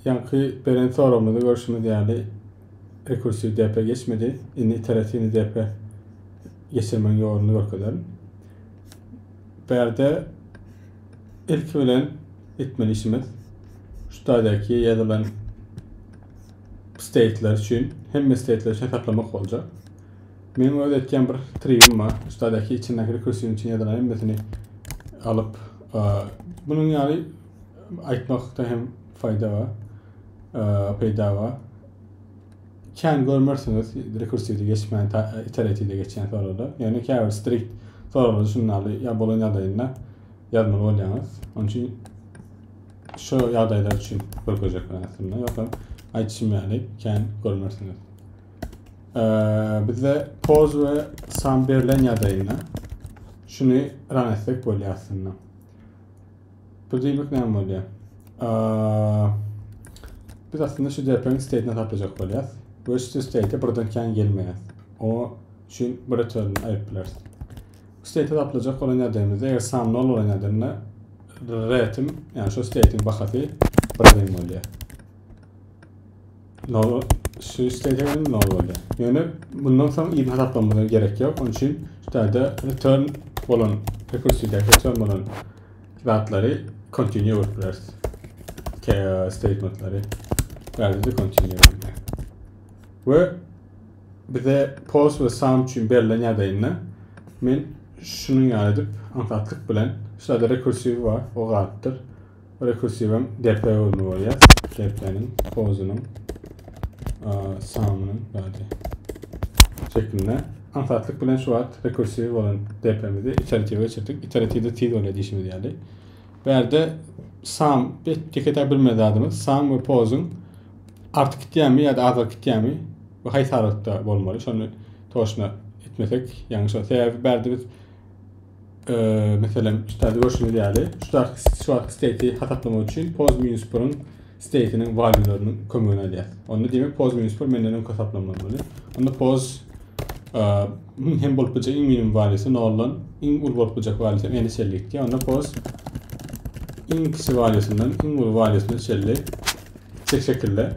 Ýaňky beren soragymyzda görşümiz ýaly rekursiw depä geçmedi. Indi iteratiwny depä geçirmegiň ýoluny görkezerin. Bu ýerde ilki bilen etmeli işimiz şu stadiýaky ýazylan state'ler üçin hemme state'ler üçin hesaplamak boljak. Meniň öz etýän bir trigim bar. Üstadaki içindäki rekursiýon üçin ýazylan hemmesini alyp, bunun ýaly aýtmakda hem faýda bar, peýda bar. Kän görmersiňiz rekursiýada geçmän, iteratiýada geçýän soragda. Ýöne käbir strikt soraglarda şunuň ýaly ýa bolan ýagdaýynda ýazmaly bolýaňyz. Onuň üçin şu ýagdaýlar üçin görkezjekler aslynda. Ýogsam aýdyşym ýaly kän görmersiňiz. Bizde poz we sam berlen ýadaýynda şuny ran etsek bolýar aslynda. Bu diýmek näme bolýar? Biz aslynda şu DP-niň state-ini taplajak bolýar we şu state birden kän gelmeýär. O üçin bir return aýyp bileris. State-i taplajak bolan ýadaýymyzda eger sam 0 bolan ýadanda retim, ýagny şu state-iň bahasy birden bolýar. Nol şu işlegen nol boldy. Yani bundan soň iýip hasaplamana gerek yok. Onun için şu taýda return bolan rekursiyda return bolan zatları continue edip bileriz. Statementleri. Yani de continue edip Ve bize post ve sum için berilen yadayında men şunun yani edip anlatlık bilen şu taýda rekursiv var o gattır. Rekursiwem depe bolmaly bolýar. Depeniň, pozunyň, sanynyň bady şeklinde. Aňsatlyk bilen şu wagt rekursiw bolan depemizi iteratiwe geçirdik. Iteratiwde tiz bolýar diýişimiz ýaly. Bärde sam, ýeke-täk bir zadymyz, sam we pozuň artyp gitýärmi ýa-da azalyp gitýärmi we haýsy aralykda bolmaly, şony toşna etmesek ýalňyş bolar. Sebäbi bärde biz Meselem, üstde görşüňiz ýaly, şuwagt state hasaplamak üçin pos minus birin state'iniň valuelarynyň kömegini alýar. Onda diýmek pos minus bir menden öňki hasaplanmaly. Onda pos hem bolup biljek iň minimum valuesi noldan iň uly bolup biljek valuesi hem ene şelli gitdi. Onda pos iň kiçi valuesinden iň uly valuesine şelli şekilde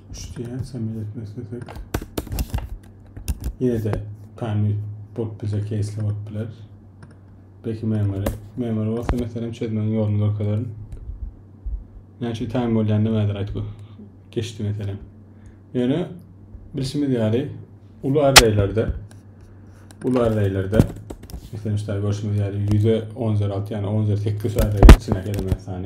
Üçdien samil etmek istesek ýene-de tamil bolup biljek keýsler bolup biler. Belki memori. Memori bolsa meselem çözmegiň ýoluny görkezerin. Näçe tamil bolýan nämedir aýtgy geçdi meselem. Ýöne bilşimiz ýaly uly arreýlerde uly arreýlerde meselem şu görşümiz ýaly 100-e 10 üzeri 6 ýagny 10 üzeri 8 arreýi içindäki elementlary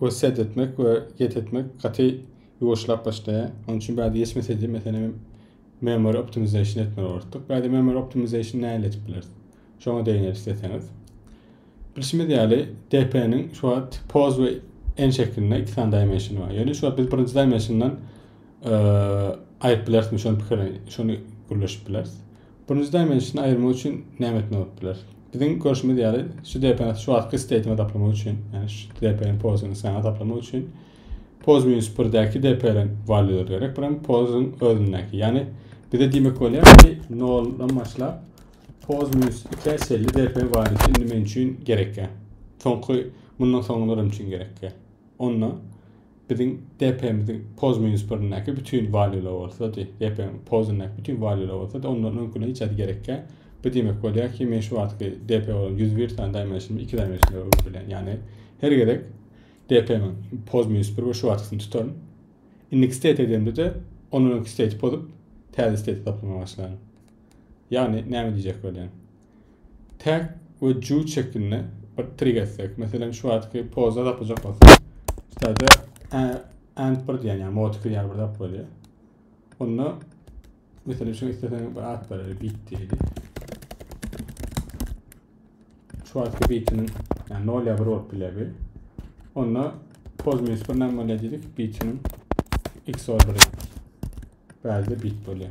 Göz set etmek we get etmek gaty ýuwaşlap başlaýar. Onuň üçin bäde geçmeseydi, meselem, memory optimization etmeli bolardyk. Bäde memory optimization nähili edip bileris? Şoňa degneris isleseňiz. Bilşimiz ýaly, DP-niň şu wagt pose we en şeklinde iki sany dimensiony bar. Ýöne şu wagt biz birinji dimensiondan aýryp bilerismi şony pikirlen, şony gürleşip bileris. Birinji dimensiony aýyrmak üçin näme etmeli bolup biler? Biziň görşümiz ýaly, şu DPN-i şu wagtky state-iňi taplamak üçin, ýagny şu DPN-iň pozysyny saňa taplamak üçin poz minus birdäki DPN-iň valýulary gerek, bir hem pozyň özündäki. Ýagny bize diýmek bolýar ki, noldan başlap poz minus ikä çenli DPN walýusy indi men üçin gerekkä. Soňky mundan soňky nurum üçin gerekkä. onda biziň DP-miziň poz minus birindäki bütin valyular bolsady, DP-niň pozundäki bütin valyular bolsady, ondan öňküne hiç zat gerekkä. Bu diýmek bolýar ki, men şu wagtky DP bolan 101 sany dimensionymda 2 dimensionda öwrüp bilýän. Ýagny her gezek DP-niň poz minus 1 we şu wagtkysyny tutaryn. Indiki state edemde-de ondan öňki state pozup täze state taplamaga başlaryn. Ýagny näme diýjek bolýan? Tag we Juw çekinde bir trik etsek. Meselem şu wagtky poza tapyjak bolsak. Şurada and bir diýen ýa motkil ýa bir zat bolýar. Onda meselem şu isteseň bir at berer bit diýdi. Şu wagtky bitiniň ýa 0 ýa 1 bolup biler bir. Onda poz minus 1 näme bolýar diýdik. Bitiniň x ordery. Bäzde bit bolýar.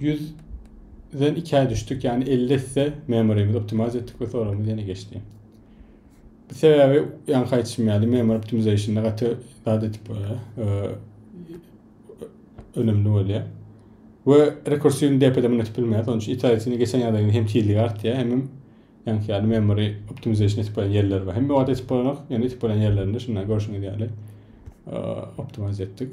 100 den 2-ä düşdük, ýagny 50 esse memorymy optimize etdik we soragymyz ýene geçdi. Bu sebäbi ýaňky aýtşym ýaly memory optimizationy gaty zat etip bolýar. Önemli bolýar. We rekursiýny DP-de ýetip bilmeýär. Sonuň üçin iterationy geçen ýagdaýyň hem tizligi artýar, hem ýaňky ýaly memory optimization etip bolýan ýerler bar. Hem wagt etip bolanok, ýöne etip bolan ýerlerinde şundan görşüňiz ýaly optimize etdik.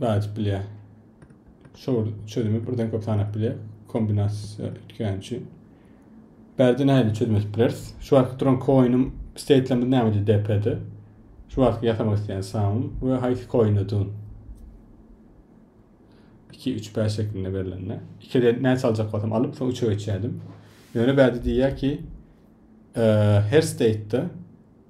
Bädip bilýär. Şol çözümi birden köp sanap bilýär. Kombinasiýa üýtgäni üçin. Bärde nähili çözüm edip bileris? Şu wagtky duran koinim state'lerimiz nämede DP-de? Şu wagtky ýasamak isleýän samym we haýsy koinde dun? 2, 3, 5 şeklinde berilende. 2-de näçe aljak bolsam alyp, soň 3-e geçýärdim. Ýöne bärde diýýär ki, e, her state'de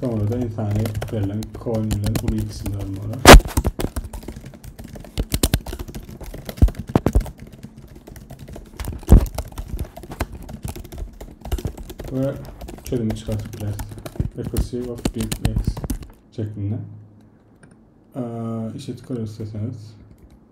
Soňra-da ynsany berlen coin bilen uly ikisini almaly. Ve çözümü çıkartıp biraz. Recursive of big x şeklinde. Ee, işe tıkar isterseniz.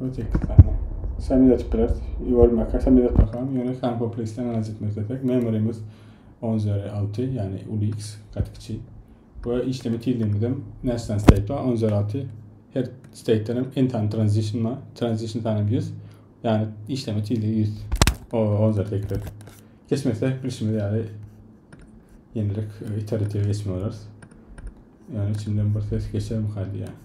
Özbekistanda Samizdat Press, Igor Maka Samizdat Bakan, ýöne San Kompleksden analiz etmek islesek, memorymyz 10 üzeri 6, ýagny uly X, gaty kiçi. We işleme tizligimiz hem National State bar, 10 üzeri 6, her state'den hem en tane transition bar, transition sanam 100, ýagny işleme tizligi 100, o 10 üzeri 8. Geçmese, bilişimiz ýaly, ýenirek e, iterative geçme olarys. Ýagny içimden bir ses geçer mi kaydı ýagny.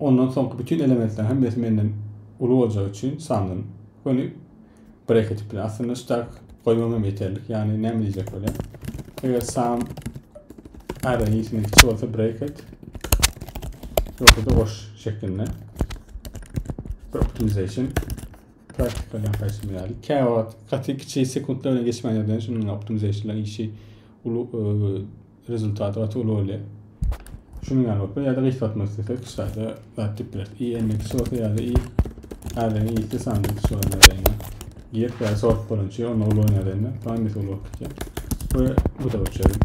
Ondan soňky bütin elementleriň hemmesi menden uly boljagy üçin sandym. Göni breketi bilen. Aslynda ştak goýmam hem ýeterlik. Ýagny näme diýjek bolýar? Eger sam array ýesinden kiçi bolsa breket ýogsa-da goş şeklinde. Bir optimization praktika bilen gaýtym ýaly. Kä wagt gaty kiçi sekuntlar bilen geçmän ýörden şunuň optimizationlar işi uly e, Rezultat gaty uly bolýar. Şunuň ýaly bolup ýa-da gysgaltmak islesek şu taýda zat dip bileris. I n x bolsa ýa-da i äzegiň i-si sanda x bolan ýagdaýynda. Girip ýa-da sort bolança onda uly bolan ýagdaýynda bu hemmesi uly bolup gitýär. We bu-da uçary.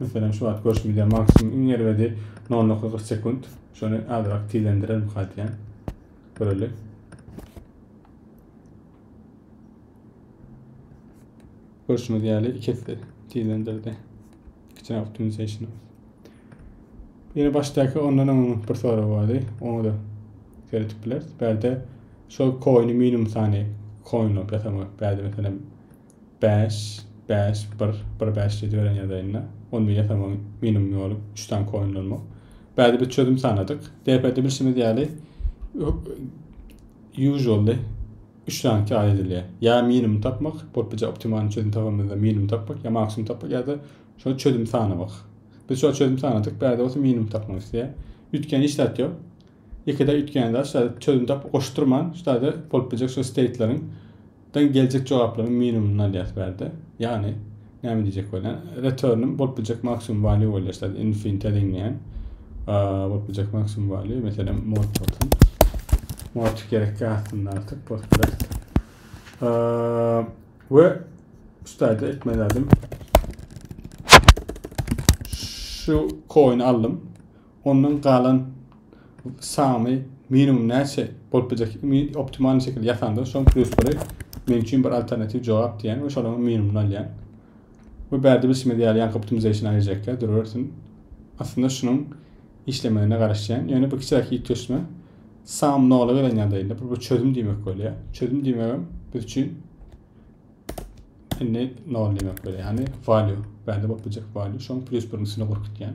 Meselem şu wagt görşümiz ýaly maksimum iň erbedi 0.40 sekunt. Şony azrak tizlendirelim kadiýan. Görelim. Görşüňiz ýaly iki esse tizlendirdi. Kitchen Optimization. Ýene başdaky ondan öň bir sorag bardy. Oňa da seretip bileris. Bärde şol coin minimum sany coin bolup ýasamak. Bärde meselem 5, 5, 1, 1, 5 diýip beren ýazaýynda. Onu ýasamak minimum ýoly 3 sany coin bolmak. Bärde bir çözüm sanadyk. DP-de bilşimiz ýaly usually Üç sany çaýa edilýär. Ýa minimum tapmak, bolup biljek optimalny çözüm tabamyzda minimum tapmak, ýa maksimum tapmak ýa-da şol çözüm sanamak. Biz şol çözüm sanadyk, bärde bolsa minimum tapmak isleýär. Üýtgän hiç zat ýok. Ikide üýtgän zat şada çözüm tap goşdurman, şada bolup biljek şu steytleriň dan geljek jogaplaryň minimumyny alýas bärde. Ýagny Näme diýjek bolýan? Return-üm bolup biljek maksimum value bolýar. Şeýle infinite deňleýän. Bolup biljek maksimum value. Meselem, mod bolsun. Mod gerekli aslynda artık. Postgres. Ve üstayda etmez adım. Şu coin aldım. ondan galan sany minimum näçe bolup biljek optimalny şekilde ýasandan soň plusleri men üçin bir alternatiw jogap diýen we şolaryň minimumyny alýan we bärde bilşimiz ýaly ýaňky optimization aýyrjakka durawersin aslynda şunuň işlemegine garaşýan ýöne bu kiçiräk ýitgeşme sam nola gelen ýagdaýynda bu çözüm diýmek bolýar çözüm diýmegem biz üçin indi nol diýmek bolýar ýagny value bärde bolup biljek value şoň plus birinjisini gurup gitýän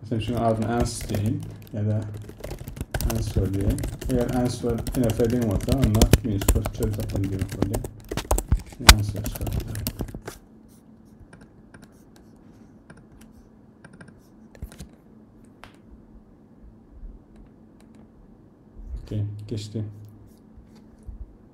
Mysal üçin adyny Ans diýeýin ýa-da Answer diýeýin. Eger Answer ine feding bolsa, onda minus kürtçe çöl tapyldy diýmek bolýar. Answer çykartdy. Geçdi.